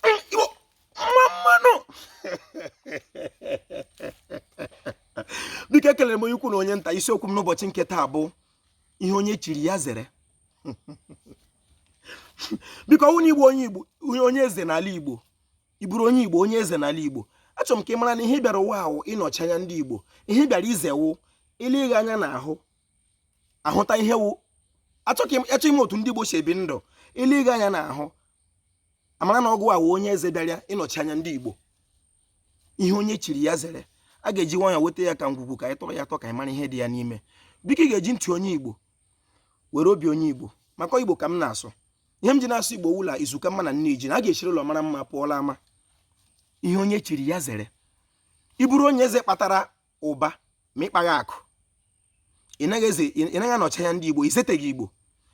Igbo mma mma nụ biko ekelere m onye ukwu na onye nta isiokwu m n'ụbọchị nke taa bụ ihe onye chiri ya zere biko ọ wụ na ị bụ onye igbo onye eze n'ala igbo ị bụrụ onye igbo onye eze n'ala igbo achọrọ m ka ị mara na ihe ị bịara ụwa wụ ịnọchi anya ndị igbo ihe ị bịara ize wụ e lee gị anya n'ahụ a hụta ihe wụ achọghị m otu ndị igbo si ebi ndụ e lee gị anya n'ahụ a mara na ọ gịwa wụ onye eze bịara ịnọchi anya ndị Igbo ihe onye chiri ya zere a ga-eji nwayọ weta ya ka ngwugwu ka anyị tọọ ya atọ ka anyị mara ihe dị ya n'ime biko ị ga-eji ntị onye Igbo were obi onye Igbo maka Igbo ka m na-asụ ihe m ji na-asụ Igbo wụ la izu ka mma na nne ji na a ga-esiri ụlọ mara mma pụọ la ama ihe onye chiri ya zere ị bụrụ onye eze kpatara ụba ma ị kpaghị akụ ị naghị anọchi anya ndị Igbo i zeteghị Igbo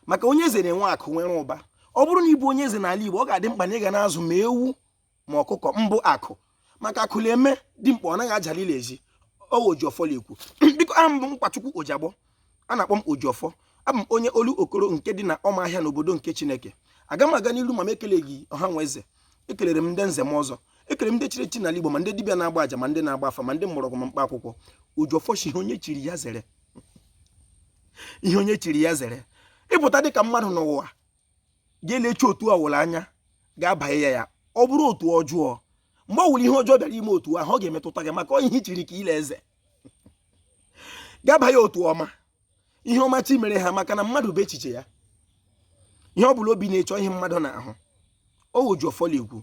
maka onye eze na-enwe akụ nwere ụba ọ bụrụ na ị bụ onye eze n'ala Igbo ọ ga-adị mkpa na ị ga na-azụ ma ewu ma ọkụkọ mbụ akụ maka akụ na-eme dimkpa ọ naghị ajalile ezi ọ wụ Ojiọfọ la-ekwu biko aha m bụ Nkwachukwu Ojiagbọ a na-akpọ m Ojiọfọ abụ m onye Olokoro nke dị na ọmahịa n'obodo nke Chineke agaghị m aga n'iru ma m ekeleghị ọha na eze ekelere m ndị nze na ọzọ ekele m ndị chiri echi n'ala Igbo ma ndị dibịa na-agba aja ma ndị na-agba afa ma ndị mgbọrọgwụ ma mkpa akwụkwọ Ojiọfọ sị ihe onye chiri ya zere ihe onye chiri ya zere ị pụta dị ka mmadụ n'ụwa ga-elechi otu ọ wụla anya ga-abanye ya ya ọ bụrụ otu ọjọọ mgbe ọ wụla ihe ọjọọ bịara ime otu ahụ ọ ga-emetụta gị maka ihe i chiri ka ị la-eze ga-abanye otu ọma ihe ọma chi mere ha maka na mmadụ bụ echiche ya ihe ọ bụla obi na-eche wụ ihe mmadụ na-ahụ ọ wụ Ojiọfọ la-ekwu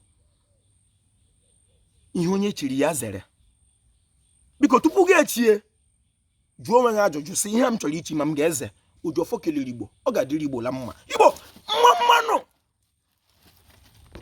ihe onye chiri ya zere biko tupu gị echie jụọ onwe gị ajụjụ sị ihe a m chọrọ ichi ma m ga-eze Ojiọfọ kelere igbo ọ ga-adịrị igbo la mma igbo mma mma nụ